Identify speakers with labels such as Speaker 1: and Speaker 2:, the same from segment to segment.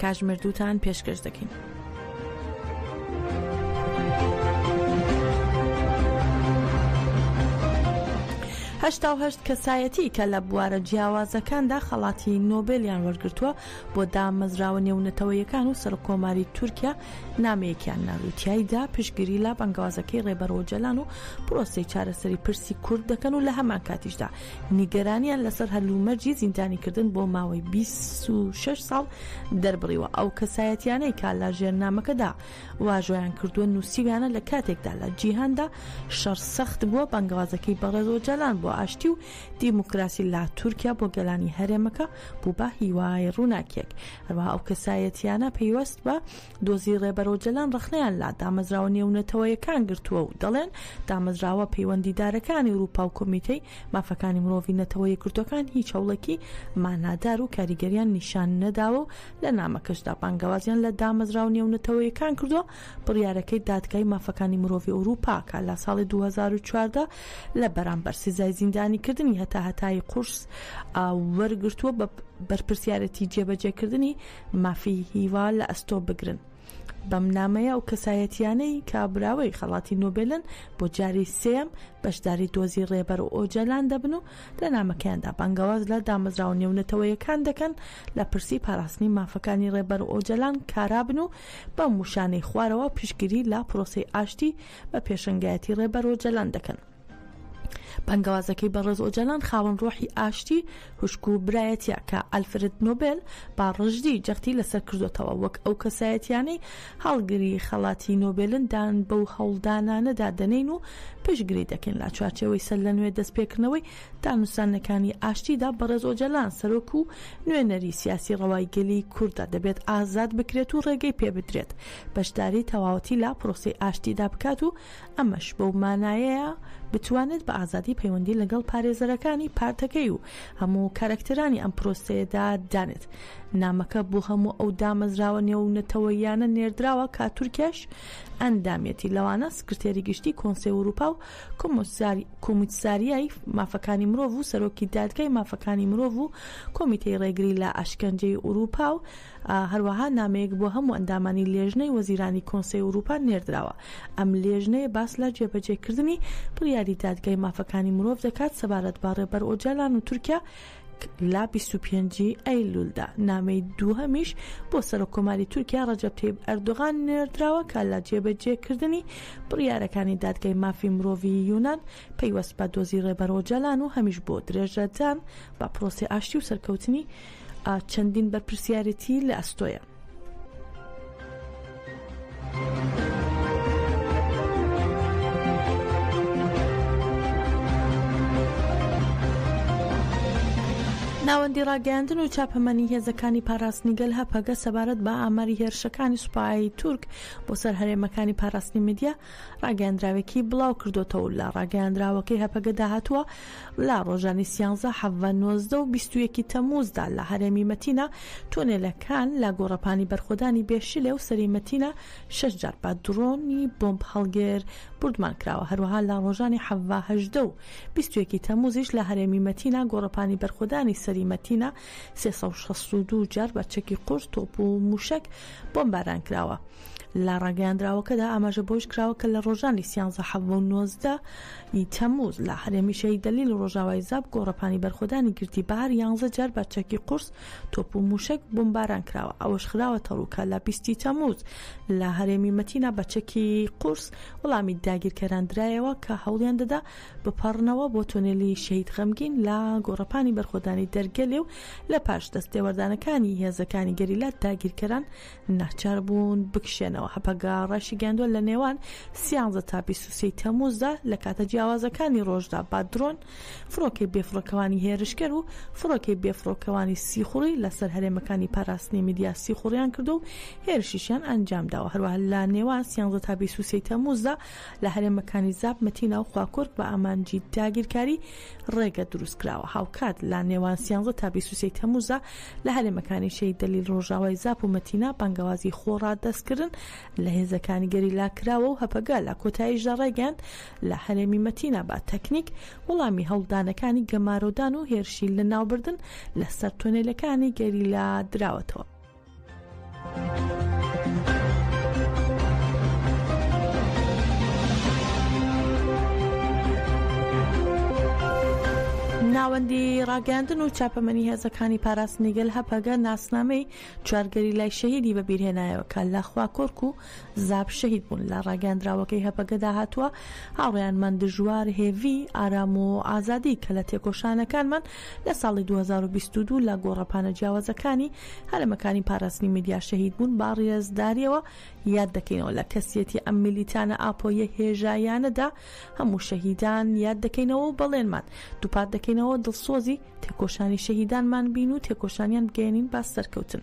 Speaker 1: کاژ مردووتان پێشکەش دەکەین. هەشتا و هەشت کەسایەتی کە لە بوارە جیاوازەکاندا خەڵاتی نۆبێلیان وەرگرتووە بۆ دامەزراوە نێونەتەوەیەکان و سەرکۆماری تورکیا نامەیەکیان ناردو تایدا پشگیری لا بەنگوازەکەی ڕێبەرۆجەلان و پرۆسی چارەسەری پرسی کورد دەکەن و لە هەمان کاتیشدا نیگەرانیان لەسەر هەلومەرجی زیندانیکردن بۆ ماوەی بیست و شەش ساڵ دەربڕیوە، ئەو کەسایەتیانەی کە لە ژێرنامەکەدا واژۆیان کردووە نووسیویانە لە کاتێکدا لە جیهاندا شەڕ سەخت بووە، بانگەوازەکەی بەڕێز ئۆجالان بۆ ئاشتی و دیموکراسی لە تورکیا بۆ گەلانی هەرێمەکە بوو بە هیوای ڕووناکییەک، هەروەها ئەو کەسایەتیانە پەیوەست بە دۆزی ڕێبەر ئۆجەلان ڕەخنەیان لە دامەزراوە نێونەتەوەیەکان گرتووە و دەڵێن، دامەزراوە پەیوەندیدارەکانی ئورووپا و کۆمیتەی مافەکانی مرۆڤی نەتەوە یەکگرتووەکان هیچ هەوڵێکی مانادار و کاریگەریان نیشان نەداوە و لە نامەکەشدا بانگەوازیان لە دامەزراوە نێونەتەوەیەکان کردووە بڕیارەکەی دادگای مافەکانی مرۆڤی ئورووپا کە لە ساڵی دوو هەزار و چواردە لە بەرامبەر سزای زیندانیکردنی هەتا هەتایی قورس وەرگرتووە بە بەرپرسیارێتی جێبەجێکردنی مافی هیوا لە ئەستۆ بگرن. بەم نامەیە ئەو کەسایەتیانەی کابراوەی خەڵاتی نۆبێلن بۆ جاری سێم بەشداری دۆزی ڕێبەر و ئۆجەلان دەبن و لە نامەکەیاندا بانگەواز لە دامەزراوە نێونەتەوەیەکان دەکەن لە پرسی پاراستنی مافەکانی ڕێبەر و ئۆجەلان کارابن و بەم وشانەی خوارەوە پیشگیری لە پرۆسەی ئاشتی بە پێشەنگایەتی ڕێبەر و جەلان دەکەن. بانگەوازەکەی بەڕێز ئۆجالان خاوەن ڕۆحی ئاشتی خوشک و برایەتیە کە ئەلفرد نۆبێل با ڕژدی جەختی لەسەر کردۆتەوە وەک ئەو کەسایەتیانەی هەڵگری خەڵاتی نۆبێلن دان بەو هەوڵدانانەدا دەنین و پشگری دەکەین لە چوارچێوەی سەر لە نوێ دەستپێکردنەوەی دانوستانەکانی ئاشتیدا بەڕێز ئۆجالان سەرۆک و نوێنەری سیاسی ڕەوای گەلی کوردە دەبێت ئازاد بکرێت و ڕێگەی پێبدرێت بەشداری تەواوەتی لە پرۆسەی ئاشتیدا بکات و ئەمەش بەو مانایەیە بتوانێت بە ئازادی پەیوەندی لەگەڵ پارێزەرەکانی پارتەکەی و هەموو کارەکتەرانی ئەم پرۆسەیەدا دانێت. نامەکە بۆ هەموو ئەو دامەزراوە نێونەتەوەییانە نێردراوە کە تورکیاش ئەندامیەتی، لەوانە سکرتێری گشتی کۆنسەی ئورووپا و کۆمیساریای مافەکانی مرۆڤ و سەرۆکی دادگای مافەکانی مرۆڤ و کۆمیتەی ڕێگری لە ئەشکەنجەی ئورووپا و هەروەها نامەیەک بۆ هەموو ئەندامانی لێژنەی وەزیرانی کۆنسەی ئورووپا نێردراوە. ئەم لێژنەیە باس لە جێبەجێکردنی بڕیاری دادگای مافەکانی مرۆڤ دەکات سەبارەت بە ڕێبەر ئۆجالان و تورکیا لە بیست و پێنج ی ئەیلوولدا. نامەی دووهەمیش بۆ سەرۆککۆماری تورکیا ڕەجەب تەیب ئەردۆغان نێردراوە کە لە جێبەجێکردنی بڕیارەکانی دادگای مافی مرۆڤی یونان پەیوەست بە دۆزی ڕێبەر ئۆجالان و هەمیش بۆ درێژەدان بە پرۆسەی ئاشتی و سەرکەوتنی چەندین بەرپرسیارێتی لە ئەستۆیە. ناوەندی ڕاگەیاندن و چاپەمەنی هێزەکانی پاراستنی گەل هەپەگە سەبارەت بە ئاماری هێرشەکانی سوپایی تورک بۆ سەر هەرێمەکانی پاراستنی میدیا ڕاگەیاندراوێکی بڵاوکردۆتەوەو لە ڕاگەیاندراوەکەی هەپەگەدا هاتووە، لە ڕۆژانی سیانزە، حەڤە، نۆزدە و بیست و یەکی تەمووزدا لە هەرێمی مەتینا تونێلەکان لە گۆڕەپانی بەرخۆدانی بێ شلێ و سەری مەتینا شەش جار بە دڕۆنی بۆمب هەڵگر بوردمان کراوە، هەروەها لە ڕۆژانی حەڤە، هەژدە و بیست و یەکی تەمووزیش لە هەرێمی مەتینا گۆڕەپانی بەرخۆدانی سەری مەتینا سێ سەد و شەست و دوو جار بە چەکی قورس، تۆپ و مووشەک بۆمباران کراوە. لە ڕاگەیاندراوەکەدا ئاماژە بەوەش کراوە کە لە ڕۆژانی سیانزە، حەڤە و نۆزدە ی تەمووز لە هەرێمی شەهید دەلیل و ڕۆژاوای زاپ گۆڕەپانی بەرخۆدانی گردی بەهار یانزە جار بە چەکی قورس، تۆپ و مووشەک بۆمباران کراوە. ئەوەش خراوەتەڕوو کە لە بیست ی تەمووز لە هەرێمی مەتینا بە چەکی قورس وەڵامی داگیرکەران درایەوە کە هەوڵیان دەدا بپەڕنەوە بۆ تۆنێلی شەهید غەمگین لە گۆڕەپانی بەرخۆدانی دەرگەلێ و لە پاش دەستتێوەردانەکانی هێزەکانی گەریلا داگیرکەران ناچار بوون بکشێنەوە هەپەگە ڕایشیگەیاندووە لە نێوان سیانزە تا بیسوسی تەموزدا لە کاتە جیاوازەکانی ڕۆژدا با درۆن فڕۆکەی بێفڕۆکەوانی هێرشکەر و فڕۆکەی بێفڕۆکەوانی سیخوڕی لەسەر هەرێمەکانی پاراستنی میدیا سیخوڕیان کردو و هێرشیشیان ئەنجام داوە هەروە لە نێوان سیانزە تا بیسوسی تەموزدا لە هەرێمەکانی زاپ، مەتینا و خواکۆرک بە ئامانجی داگیرکاری ڕێگە دروستکراوە. هاوکات لە نێوان سیانزە تا بیست و سێی تەمووزدا لە هەرێمەکانی شەهید دەلیل ڕۆژاوای زاپ و مەتینا بانگەوازی خۆڕادەستکردن لە هێزەکانی گەریلا کراوە و هەپەگە لە کۆتاییشدا ڕایگەیاند لە هەرێمی مەتینا بە تەکنیک وڵامی هەوڵدانەکانی گەمارۆدان و هێرشی لەناوبردن لەسەر تۆنێلەکانی گەریلا دراوەتەوە. ناوەندی ڕاگەاندن و چاپەمەنی هێزەکانی پاراستنی گەل هەپەگە ناسنامەی چوارگەری لای شەهیدی بەبیرهێنایەوە کە لە خواکۆرک و زاب شەهید بوون لە ڕاگەاندراوەکەی هەپەگەدا هاتووە هاوڕیانمان دژوار هێڤی ئارام و ئازادی کە لە تێکۆشانەکانمان لە ساڵی دوو هەزار و بیست و دوو لە گۆڕەپانە جیاوازەکانی هەرەمەکانی پاراستنی میدیا شەهید بوون، بە ڕێزدارییەوە یاد دەکەینەوە. لە کەسیەتی ئەم میلیتانە ئاپۆییە هێژاییانەدا هەموو شەهیدان یاد دەکەینەوە و بەڵێنمان دووپات دەکەینەوە دڵسۆزی تێکۆشانی شەهیدانمان بین و تێکۆشانیان بگەیەنین بە سەرکەوتن.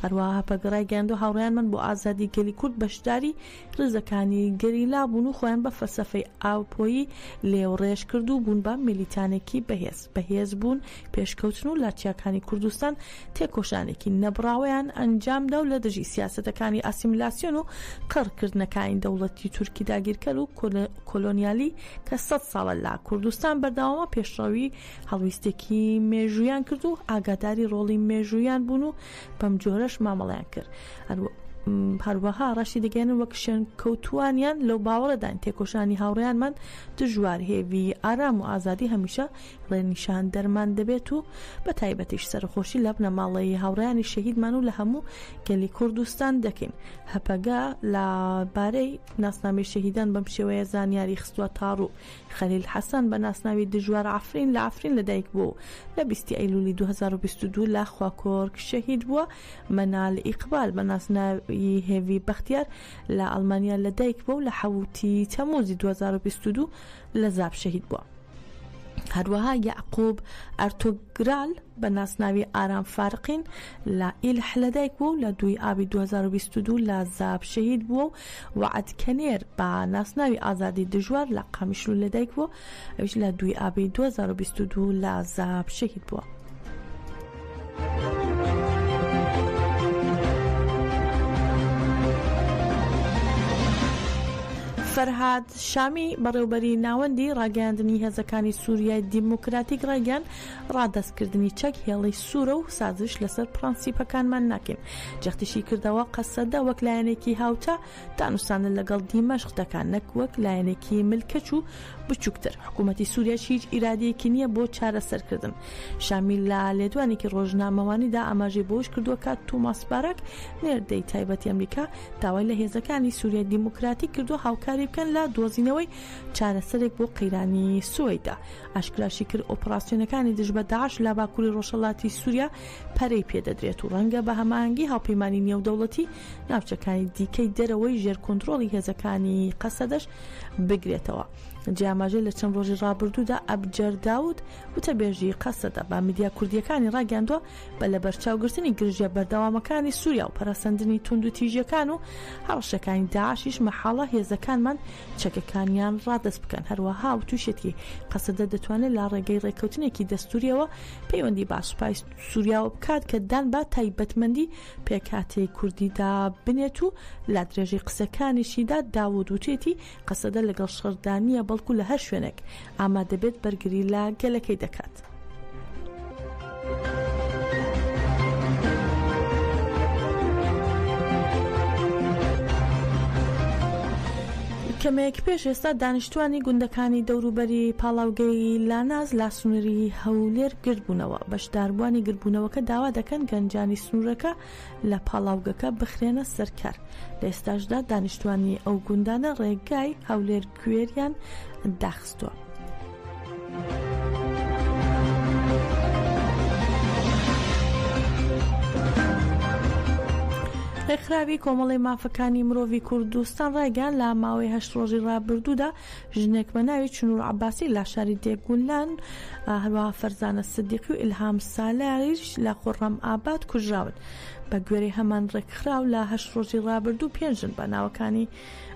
Speaker 1: هەروەها هەپەگە ڕایگەیاندووە هاوڕێیانمان بۆ ئازادی گەلی کورد بەشداری ڕیزەکانی گەریلا بوون و خۆیان بە فەلسەفەی ئاوپۆیی لێوڕێژ کرد و بوون بە میلیتانێکی بەهێز. بەهێز بوون، پێشکەوتن و لە چیاکانی کوردستان تێکۆشانێکی نەبڕاوەیان ئەنجامدا و لە دژی سیاسەتەکانی ئاسیمیلاسیۆن و قڕکردنەکانی دەوڵەتی تورکی داگیرکەر و کۆلۆنیالی کە سەد ساڵە لە کوردستان بەردەوامە پێشڕەوی هەڵویستێکی مێژوویان کرد و ئاگاداری ڕۆڵی مێژوویان بوون و بەم جۆرەش مامەڵەیان کرد هەروە هەروەها ڕەشی دەگەێنن وەک شوێن کەوتوانیان لەو باوەڕدان تێکۆشانی هاوڕیانمان دژوار هێوی ئارام و ئازادی هەمیشە ڕێنیشان دەرمان دەبێت و بە تایبەتیش سەرخۆشی لە بنەماڵەیە هاوڕیانی شەهیدمان و لە هەموو گەلی کوردستان دەکەین هەپەگا لە بارەی ناسنامی شەهیدان بەم شێوەیە زانیاری خستوە تاڕوو خەلیل حەسەن بە ناسناوی دژوار عەفرین لە عەفرین لەدایک بووە و لە بیست ئەیلولی دوو هەزار و بیست و دوو لە خواکۆرک شەهید بووە، مەنال ئیقبال بە ناسناوی هێڤی بەختیار لە ئەڵمانیا لەدایک بووە و لە حەوت ی تەمووزی دوو هەزار و بیست و دوو لە زاپ شەهید بووە. هەروەها یەعقوب ئەرتوگرال بە ناسناوی ئارام فارقین لە ئیلح لەدایک بووە و لە دوو ی ئابی دوو هەزار و بیست و دوو لە زاپ شەهید بووە و وەعد کەنێر بە ناسناوی ئازادی دژوار لە قامیشلۆ لەدایک بووە، ئەویش لە دووی ئابی دوو هەزار و بیست و دوو لە زاپ شەهید بووە. فەرهاد شامی، بەڕێوبەری ناوەندی ڕاگەیاندنی هێزەکانی سووریای دیموکراتیک ڕایگەیاند، ڕادەستکردنی چەک هێڵی سوورە و سازش لەسەر پڕەنسیپەکانمان ناکەین، جەختیشی کردەوە، قەسەدە وەک لایەنێکی هاوتا دانوستاندن لەگەڵ دیمەشق دەکات نەک وەک لایەنێکی ملکەچ و بچووکتر، حکوومەتی سووریاش هیچ ئیرادەیەکی نییە بۆ چارەسەرکردن. شامی لە لێدوانێکی ڕۆژنامەوانیدا ئاماژەی بەوەش کردووە کە تۆماس باراک، نێردەی تایبەتی ئەمریکا داوای لە هێزەکانی سووریای دیموکراتیک کردووە هاوکاری بکەن لە دۆزینەوەی چارەسەرێک بۆ قەیرانی سوەیدا. ئاشکراشی کرد ئۆپڕاسیۆنەکانی دژ بە داعش لە باکووری ڕۆژهەڵاتی سووریا، پەرەی پێدەدرێت و ڕەنگە بە هەماهەنگی هاوپەیمانی نێودەوڵەتی ناوچەکانی دیکەی دەرەوەی ژێر کۆنترۆڵی هێزەکانی قەسەدەش بگرێتەوە. جێی ئاماژەیە لە چەند ڕۆژی ڕابردوودا ئەبجەر داود، وتەبێژی قەسەدە بە میدیا کوردییەکانی ڕاگەیاندووە، بە لەبەرچاوگرتنی گرژییە بەردەوامەکانی سووریا و پەرەسەندنی توندوتیژییەکان و هەڕەشەکانی داعشیش مەحاڵە هێزەکانمان چەکەکانیان ڕادەست بکەن. هەروەها وتوشیەتی، قەسەدە دەتوانێت لە ڕێگەی ڕێککەوتنێکی دەستوورییەوە پەیوەندی با سوپای سووریاوە بکات کە دان با تایبەتمەندی پێکاتەی کوردیدا بنێت و لا درێژەی قسەکانیشیدا داود وتێتی قەسەدە لەگەڵ شەردانە بەڵکو لە هەر شوێنێک ئاما دەبێت بەرگری لە گەلەکەی دەکات. کەمێک پێش ئێستا دانیشتوانی گوندەکانی دەوروبەری پاڵاوگەی لاناز لا سنوری هەولێر گردبوونەوە، بەشداربووانی گردبوونەوەکە داوا دەکەن گەنجانی سنورەکە لە پاڵاوگەکە بخرێنە سەر کار، لە ئێستاشدا دانیشتوانی ئەو گوندانە ڕێگای هەولێر-گوێریان داخستووە. بەستووە. ڕێکخراوی کۆمەڵی مافەکانی مرۆڤی کوردستان ڕایگەیان لە ماوەی هەشت ڕۆژی ڕابردوودا ژنێک بە ناوی چنوور عباسی لە شاری دێگولان هەروە فەرزانە سدیقی و ئیلهام سالاریش لە خۆڕەم ئاباد کوژراون بە گوێری هەمان ڕێکخراو لە هەشت ڕۆژی ڕابردوو پێنجن بە ناوەکانی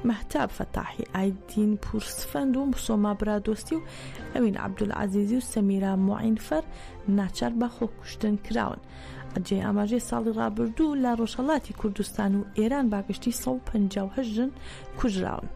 Speaker 1: مەهتاب فەتاحی ئایدین پوور سفەند و سۆما برادۆستی و ئەوین عەبدولعەزیزی و سەمیرا موعینفەر ناچار بە خۆکوشتن کراون. جێی ئاماژەی ساڵی ڕابردوو لە ڕۆژهەڵاتی کوردستان و ئێران باگشتی 158 ژن کوژراون.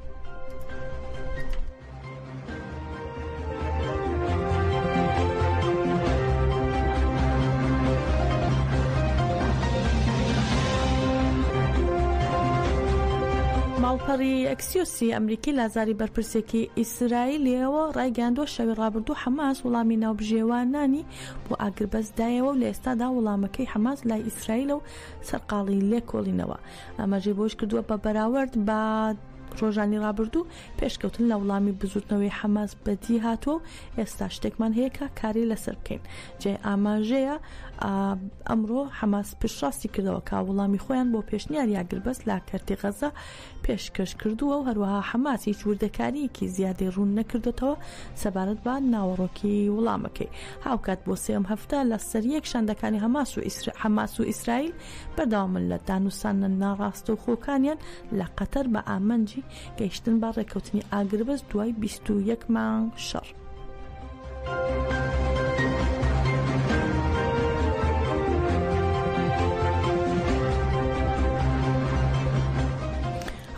Speaker 1: ماڵپەڕی ئەکسیۆسی ئەمریکی لازاری بەرپرسێکی ئیسرائیلەوە ڕایگەاندوە شەوی ڕابردوو حەماس وڵامی ناوبژێوانانی بۆ ئاگربەست دایەوە و لە ئێستادا وڵامەکەی حەماس لای ئیسرائیلە و سەرقاڵی لێکۆڵینەوە ئەمەژی بۆش کردووە بە بەراورد بە ڕۆژانی ڕابردوو پێشکەوتن لە وڵامی بزوتنەوەی حەماس بەدی هاتووە و ئێستا شتێکمان هەیە کە کاری لەسەر بکەین جێی ئاماژەیە ئەمڕۆ حەماس پشتڕاستی کردەوە کا وڵامی خۆیان بۆ پێشنیار یاگربەست لا کەرتی غەزە پێشکەش کردووە و هەروەها حەماس هیچ وردەکاریەکی زیادەی ڕوون نەکردێتەوە سەبارەت بە ناوەڕۆکی وڵامەکەی هاوکات بۆ سێم هەفتە لە سەریەک شاندەکانی هەماس و ئیسر حەماس و ئیسرائیل بەردەوامن لە دانوسانە ناڕاستەوخۆکانیان لە قەتەر بە ئامانجی گەیشتن بە ڕێکەوتنی ئاگربەست دوای بیست و یەک مانگ شەڕ.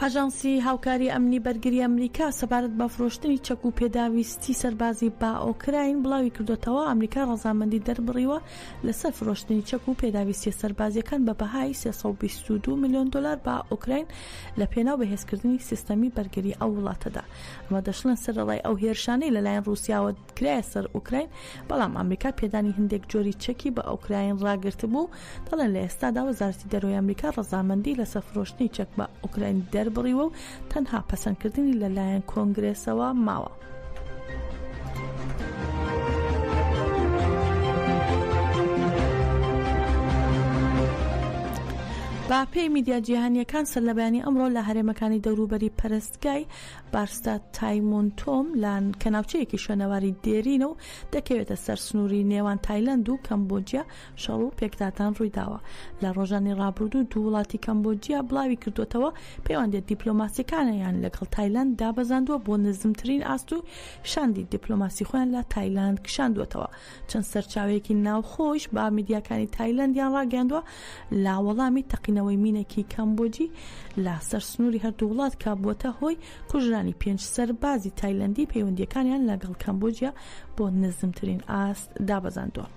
Speaker 1: ئاژانسی هاوکاری ئەمنی بەرگری ئەمریکا سەبارەت بە فرۆشتنی چەک و پێداویستی سەربازی بە ئۆکراین بڵاوی کردوتەوە ئەمریکا ڕەزامەندی دەربڕیوە لەسەر فرۆشتنی چەک و پێداویستییە سەربازییەکان بە بەهای سێ سەد و بیست و دوو ملیۆن دۆلار بە ئۆکراین لە پێناو بەهێزکردنی سیستەمی بەرگری ئەو وڵاتەدا. ئەمە دەشڵێن سەرەڕای ئەو هێرشانەی لەلایەن ڕووسیاوە کرایە سەر ئۆکراین، بەڵام ئەمریکا پێدانی هەندێک جۆری چەکی بە ئۆکراین ڕاگرتبوو، دەڵێن لە ئێستادا وەزارەتی دەرەوەی ئەمریکا ڕەزامەندی لەسەر فرۆشتنی چەک بە ئۆکراین دەربڕیوە و تەنها پەسەندکردنی لەلایەن کۆنگرێسەوە ماوە. بەپێی میدیا جیهانیەکان سەرلەبەیانی ئەمڕۆ لە هەرێمەکانی دەوروبەری پەرستگای بارستا تایمون تۆم لان کە ناوچەیەکی شوێنەواری دێرینە و دەکەوێتە سەر سنووری نێوان تایلند و کەمبۆجیا شەڕ و پێکدادان ڕوویداوە. لە ڕۆژانی ڕابردوو دوو وڵاتی کەمبۆجیا بڵاوی کردووەتەوە، پەیوەندییە دیپلۆماسییەکانیان لەگەڵ تایلاند دابەزاندووە بۆ نزمترین ئاست و شاندی دیپلۆماسی خۆیان لە تایلاند کشاندووەتەوە. چەند سەرچاوەیەکی ناوخۆیش بە میدیاکانی تایلەندیان ڕاگەیاندووە، لە وەڵامی تەقینەوەی مینێکی کەمبۆجی لە سەر سنووری هەردوو وڵات کە بووەتە هۆی کوژرانی پێنج سەربازی تایلەندی، پەیوەندییەکانیان لەگەڵ کەمبۆجیا بۆ نزمترین ئاست دابەزاندووە.